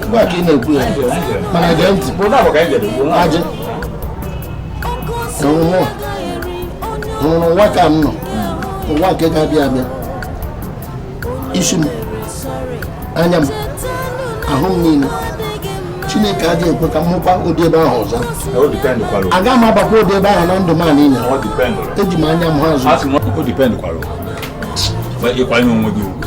Ugbu a ka ị na-ekwu ya mana gee ntị ajị nwụrụ ụwa nke m nọ ụwa nke ga-abịa abịa isi m anya m ahụ m niile chineke agaghị ekwe ka m hụkwa ụdị ebe ahụ ọzọ aga m abakwa ụdị ebe ahụ na ndụ m a niile eji m anya m ha azụ ịkwanye onwe gị ugwu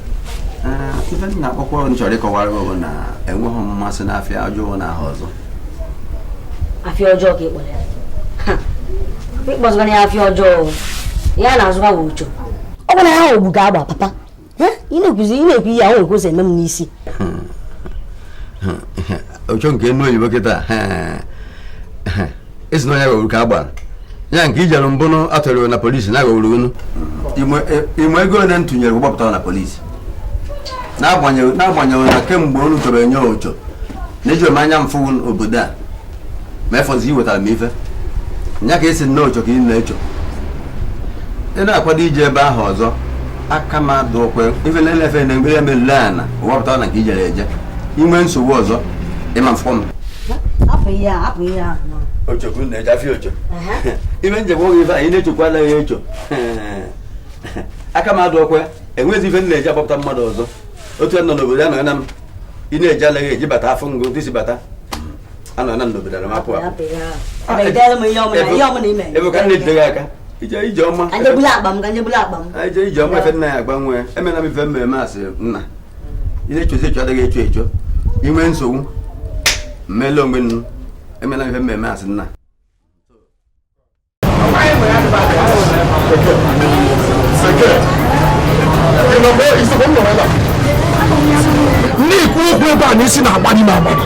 ife m na-akpọkwa m chọrọ ịkọwara gị bụ na enweghị m mmasị n'afịa ọjọọ na aha ọzọ afịa ọjọọ ka ị kpọrọ ya ịkpọzụgara ya afịa ọjọọ ya na-azụkwa bụ ocho ọ bụrụ na ya ogbu ga-agba papa ị na-ekwuzi ị na-ekwu ihe ahụ ekwu ụzọ eme m n'isi ocho nke enu oyibo kịta esi na onye ghọgburu ka a gbara ya nke i jere mbụ unu atọrọ na polisi na ghọgburu unu ị ma ego ole m tinyere gbapụtara na polisi n'agbanyeghị n'agbanyeghị na kemgbe unu chọrọ enye ocho na ejirọ m anya m fụ obodo a ma ya fọzi iwetara m ife nya ka esi nne ocho ka ị na-echo ị na-akwado ije ebe ahụ ọzọ aka m adịrọkwa ife na-elefe na mgbe ya melule ana gbapụtara na nke i jere eje i nwee nsogbu ọzọ ị ma-afụ m ochekwu na-eje afịa ocho ime njem oge ife anyị na-echekwa anaghị echo aka m adịrọkwa enwezi ife m na-eji agbapụta mmadụ ọzọ otu a nọ n'obodo a nọ na m ị na-eji anaghị eji bata afọ ngụ ntị si bata anọ na n'obodo na m apụ apụ ebe ka m na-ejide gị aka ije ije ọma ije ije ọma ife nna ya agbanwe emena m ife m ga-eme as nna ị na-echozi echo adịghị echo echo i nwee nsogbu mmele onwe nnu emena ife m ga-eme as nna ndị ikwu okwu ebe a na isi na-agbanye m agbanye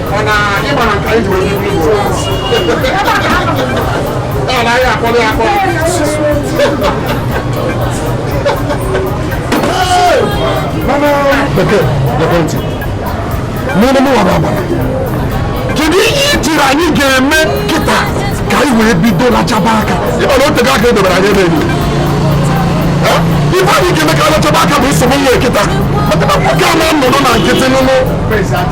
kedu ihe i chere anyị ga-eme kịta ka anyị wee bido lachaba aka ị ma na o tego aka edobere anyị ebe enyi ife anyị ga-eme ka a lachaba aka bụ nsogbu nwa kịta maka na nwoke a na-anọdụ na nkịtị mụ na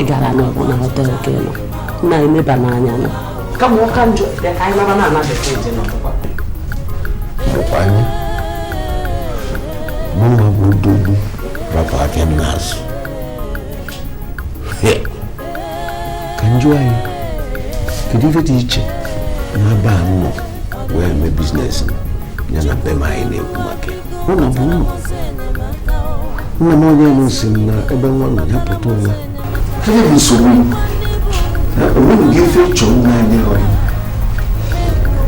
ị gara na ọ bụ na hotel ka ị nọ na-emeba n'anya nọ kama ọ ka njọ bịa ka anyị naba na anabata eje na ọkwa anyị mụnwa bụ odogwu rapụ aka m n'azụ ka m jụọ gị kedu ife dị iche na be a nọ wee mee business ya na be m anyị na-ekwu maka ya nna m onye elu si m na ebe nwa nọ ya pụta ụwa gịnị bụ nsogbu o nweghị gị ife ịchọ nwa anyị ọrụ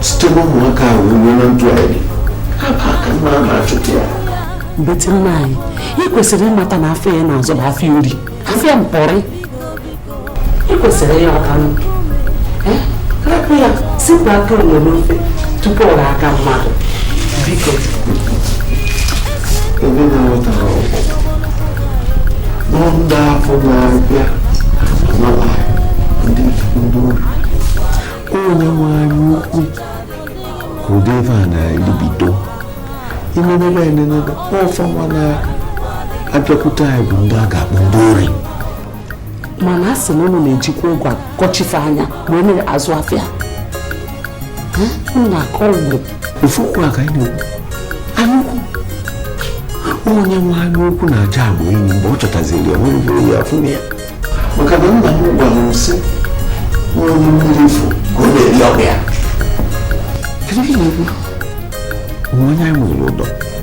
site n'ụmụaka ahụ ruo na ndụ anyị aka nwa a na-achụta ya mbetị nna anyị ị kwesịrị ịmata na afịa ị na-azụ bụ afịa ori afịa mpọrị kwesịrị ya ọka m rapụ ya sipụ aka enwe n'ofe tupu ọ ghọọ aka mmadụ biko ebe na-enwetara ọgwụ na ndị afịa na-abịa anọla ndị ndị ori onye nwe anya ukwu ka ụdị ebe a na-elibido imenebe enenebe ọ fa nwa na-abịakwute anyị bụ ndị a ga-akpọ ndị ori mana a sị na ụnụ na-ejikwa ụgwọ akọchife anya wee na-azụ afịa na akọ ụgbọ ofu okwu a ka anyị na-ekwu anya ukwu onye nwe anya ukwu na-aja agba enyi mgbe ọ chọtaziri ya nwere bụrụ ya afụ ya maka na nna m gwara m sị onye mmiri fụ ka ọ na-eri ọgụ ya kedu ihe ị na-ekwu onye anyị nwere ụdọ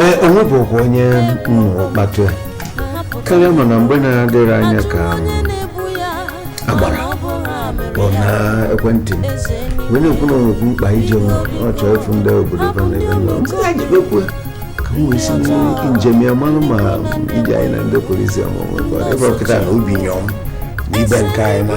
ee onye bụ ọgwụ onye nnụrụ kpatụ ya karịa mana mgbe na-adịghị anya ka a gbara ya na ekwentị m wee na-ekwu na o nwekwu mkpa ije nwa ọ chọọ ịfụ ndị obodo ebe na ebe nọ ndị anyị jibekwu ka m wee si njem ya mmanụ ma ije anyị na ndị polisi ọmụmụ ebe ọkịta na obi nyọm n'ibe nke anyị na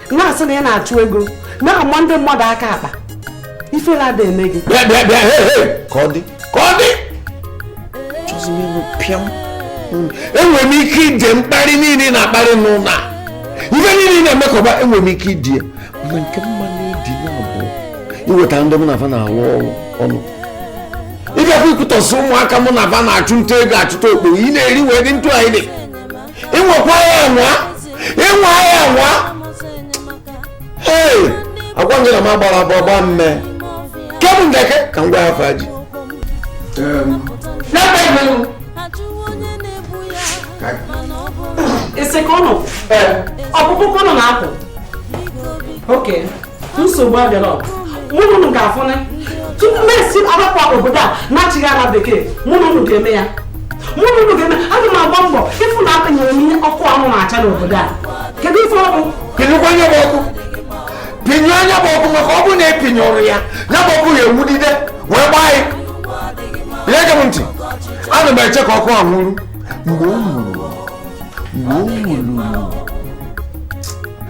na-asị na ị na-achụ ego na-ama ndị mmadụ aka akpa ifele ada eme gị bịa bịa bịa he he ka ọ dị ka ọ dị enwere m ike idi mkparị niile ị na-akparị m n'ụlọ a ife niile ị na-emekọba enwere m ike idi ya mana nke m ma na-edi ya bụ iweta ndị mụ na fa na-alụ ọrụ ọnụ ịbịakwa ikwutọsị ụmụaka mụ na fa na-achụ nta ego achụta okpogho ị na-eri wee dị ndụ anyị dị ị nwakwa ya anwa ị nwa ya anwa ee agwa gị na m agbara abụ ọgba mme kebụ ndeke ka m gwa ya faji ese ka ọ nọ ọ bụkwa ka ọ nọ na-apụ oke nsogbu adịrọ mụ na unu ga-afụ na tupu m esi arapụ obodo a nachigha ala bekee mụ na unu ga-eme ya mụ na unu ga-eme aga m agba mbọ ịfụ na agbanyụrụ m ihe ọkụ unu na-acha n'obodo a kedu ife ọ bụ pịnyụkwa ya bụ ọkụ pịnyụ ya bụ ọkụ maka ọ bụ na apịnyụrọ ya ya bụ ọkụ ya enwudide wee gbaa ya ihe gee m ntị ana m eche ka ọkụ a nwuru mgbe o nwuru mgbe o nwuru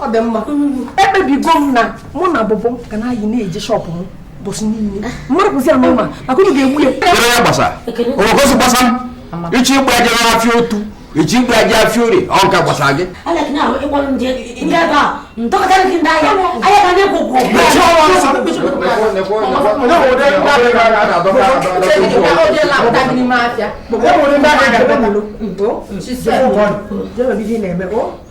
ọ dị mma ekpebigo m na mụ na bụbụ ga na ayị na-eje shọpụ m bụsị niile mmadụ bụzi ya n'ụma maka unu ga-egbu ya kere ya gbasa ogosi gbasa m ichi ịgba aja n'afịa otu ichi ịgba aja afịa ori ọ nka gbasa gị Thank you.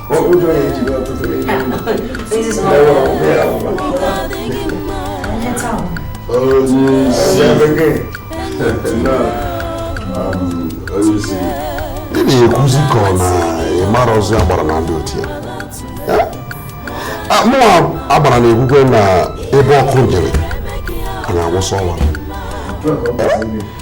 ụjọ ya ejiri ọtụtụ onyeisi ị na-ekwuzi ka ọ na ịmarazi agbara na ndị otu ya mụnwa agbara na-ekwukwa na ebe ọkụ nyụrụ anyị awụsa ọwa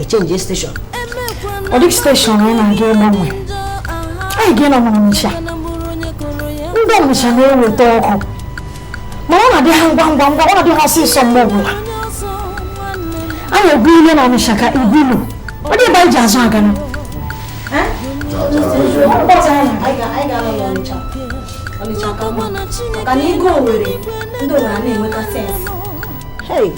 e change station ọ dịghị station anyị na-aga ịgbanwe anyị ga-enọ n'ọnịcha ndị ọnịcha na-eweta ọkụ ma ọ na-adị ha ngwa ngwa ngwa ọ na-adị ha ọsịsọ mgbe ọbụla a na-egwu ile na ọnịcha ka igwulu ọ dị ebe anyị ji azụ agana ọnịcha ka mma maka na ego owerri ndị owerri na-enweta sense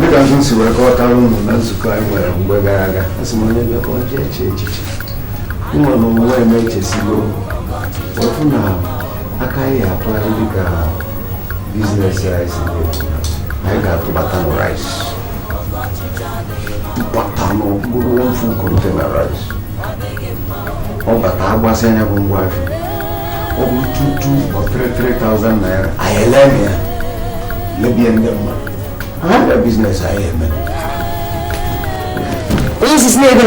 dịka m si wee kọwatara unu na nzukọ anyị nwere mgbe gara aga asị m onye bịa ka ọ jee chee echiche mụnwa na onwe m echesigo fụ na aka anyị atụgharị dịka business rice anyị ga-atụbata na rice tụbata ọ bụrụ ofu container rice ọ bata a gbasịa ya bụ ngwa afịa ọ bụrụ two two or 3,000 naira anyị ele na ya lebie ndị mmadụ ha na business anyị eme onyeisi na-ebe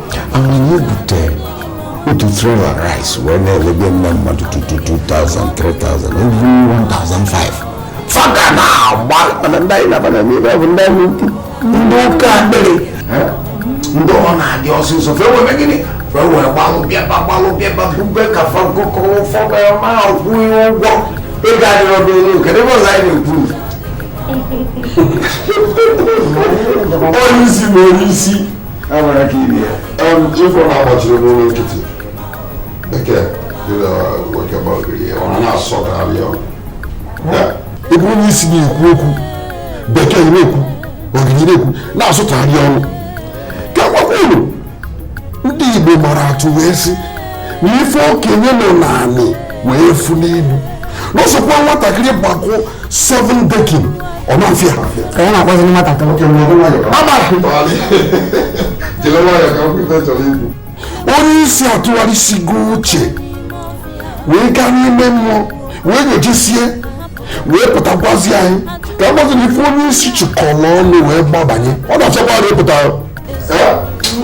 anyị bute otu trailer rice wee na-elebe ndị mmadụ 2000 3000 even 1500 fa ka na-agba mana ndị anyị nabana n'ebe ọ bụ ndị anya ukwu ndị oke akpịrị ndị ọ na-adị ọsịsọ fa wee mee gịnị fa wee gbalụ bịaba gbalụ bịaba bube ka fa nkụkọ ụfọdụ ma kwụ ya ụgwọ ego adịrọ bụ elu kedu ebe ọzọ anyị na-ekwu onye isi na onye isi chifụ na-agbachiri n'ụlọ nkịtị bekee ebe onye isi na-ekwu okwu bekee na-ekwu ọ gịnị na-ekwu na-asụtagharị ọnụ ka m gwakwa unu ndị Igbo mara atụ wee sị na ife okenye nọ n'anị wee fụ n'elu n'ọsọkwa nwatakịrị gbakọ 7 decking ọ na-afịa ka ya na-akpọzi nwatakịrị onye isi atụgharịsigo uche wee gaa n'ime mmụọ wee nyojesie wee pụtakwazi anyị ka agbazi na ife onye isi chịkọrọ ọnụ wee gbabanye ọ na-achọkwa na ịpụta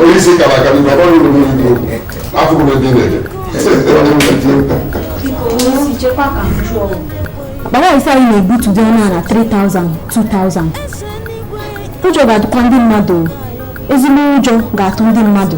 onye isi kara aka n'ibe ọrụ uru mmiri dị okwu afọ bụ ebe na-eje akpa rice anyị na-ebutu dị ọnụ ala 3000 2000 ụjọ ga-atụkwa ndị mmadụ ezigbo ụjọ ga-atụ ndị mmadụ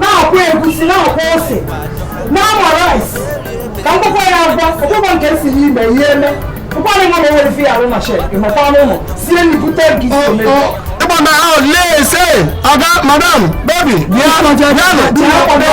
na-akwọ egusi na-akwọ ose na-ama rice ka m kpụkwa ya agwa ọkpụkpọ nke si n'ime ihe eme ụkwara nwa nwere fi arụ na shed ịmakwa n'ụlọ sie nri bute gị ịgba na ahụ lee ise ọga madam baby bịa bịanụ bịa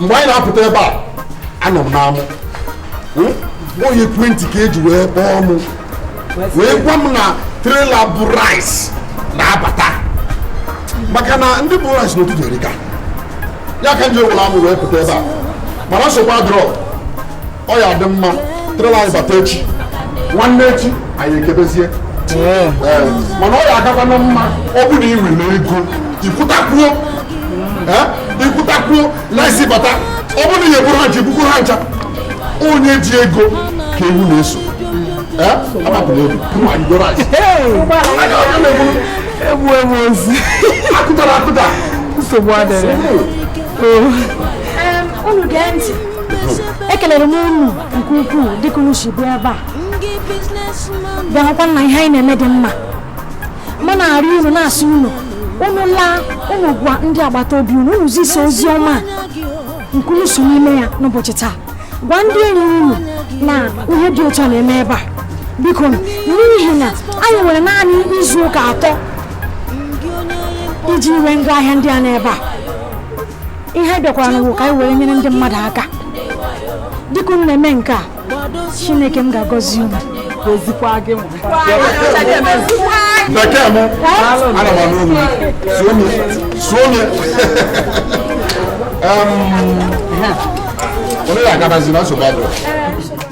mgbe anyị na-apụta ebe a anọ m n'amụ hmm? ọ n'ekwentị ka eji wee kpọọ m wee gwa m na trailer bu rice na-abata maka na ndị bu rice n'ụtụtụ erika ya ka m ji wụrụ amụ wee pụta ebe a mana nsogbu adịrọ ọ ya-adị mma trailer anyị bata echi nwanne echi anyị ekebezie mana ọ ya agakwa na mma ọ bụ na ị nwere ego ikwutakwuo ikwutakwuo na isi bata ọ bụrụ na ihe bụrụ ha ji bukwuru ha ncha onye ji ego ka ewu na-eso agbapụrụ obi mma i goro anụ egbu egbu azụ akụtara akụta nsogbu adịrọ unu gee ntị ekelere m unu nke ukwuu dịka unu si bịa ebe a bịa hụkwa na ihe anyị na-eme dị mma ma na-arịọ unu na-asị unu unu laa unu gwa ndị agbata obi unu unu zisa ozi ọma nke unu so n'ime ya n'ụbọchị taa gwa ndị enyi unu na ihe dị otu a na-eme ebe a biko n'ihi na anyị nwere naanị izu ụka atọ iji nwee ngwa ahịa ndị a n'ebe a ihe a bịakwara n'ụwa ka anyị were nyere ndị mmadụ aka dịka unu na-eme nke a chineke m ga-agọzi unu gozikwa gị nwa bekee m ana m anụ olu suo m suo m onye na-agabazi na nsogbu adịrọ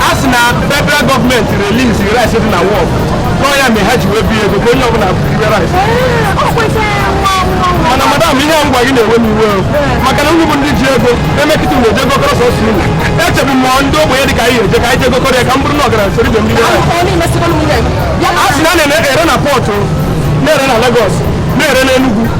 a sị na federal gọọmenti release rice dị na wharf na ọ ya mere ha ji wee bee ego ka onye ọbụla buru rice mana madam ihe a ngwa gị na-ewe m iwe maka na nnukwu ndị ji ego emekịta mgbe eje gokọrọ sọsọ unu echebu m ndị ogbenye dị ka anyị eje ka anyị je gokọrọ ya ka m bụrụ na ọgaranya soro ibe m rie a sị na a na-ere na pọtụ na-ere na Lagos na-ere na Enugu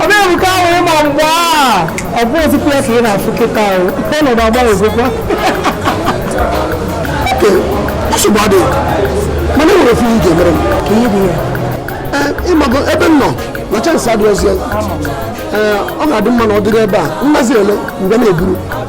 ọ bịa bụ ka ahụ ị ma mgbe a ọ bụ ozikwu ya ka ị na-afụ kịta ahụ ike ọnọdụ agbanwezikwa okay nsogbu adịghị mana e nwere ofu ihe ị ga-emere m ka ihe dị ya Ee, ị mago ebe m nọ na chance adịghịzi ya. Ee, ọ ga-adị mma na ọ dịrị ebe a m mazi ele mgbe na-eburu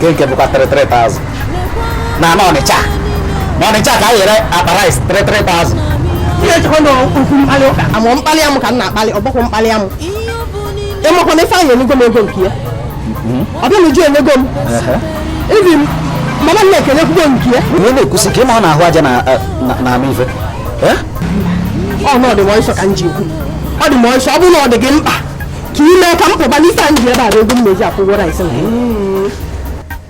nke bụkwa 33,000 na na Ọnịcha na Ọnịcha ka e rere akpa rice 33,000 ị na-echekwa na okwu mkpali ụka amụ mkpali amụ ka m na-akpali ọ bụkwa mkpali amụ ị makwa na Ifeanyị enyego m ego nke ya Ọbịanuju enyego m even Mama Nneka enyekwugo nke ya onye na-ekwusi ka ị ma ọ na-ahụ aja na-ama ife ọ na ọ dị m ọsọ ka m ji ekwu ọ dị m ọsọ ọ bụrụ na ọ dị gị mkpa ka i mee ka m pụba na ife anyị ji ebe a bụ ego m na-eji akwụ ụgwọ rice na ya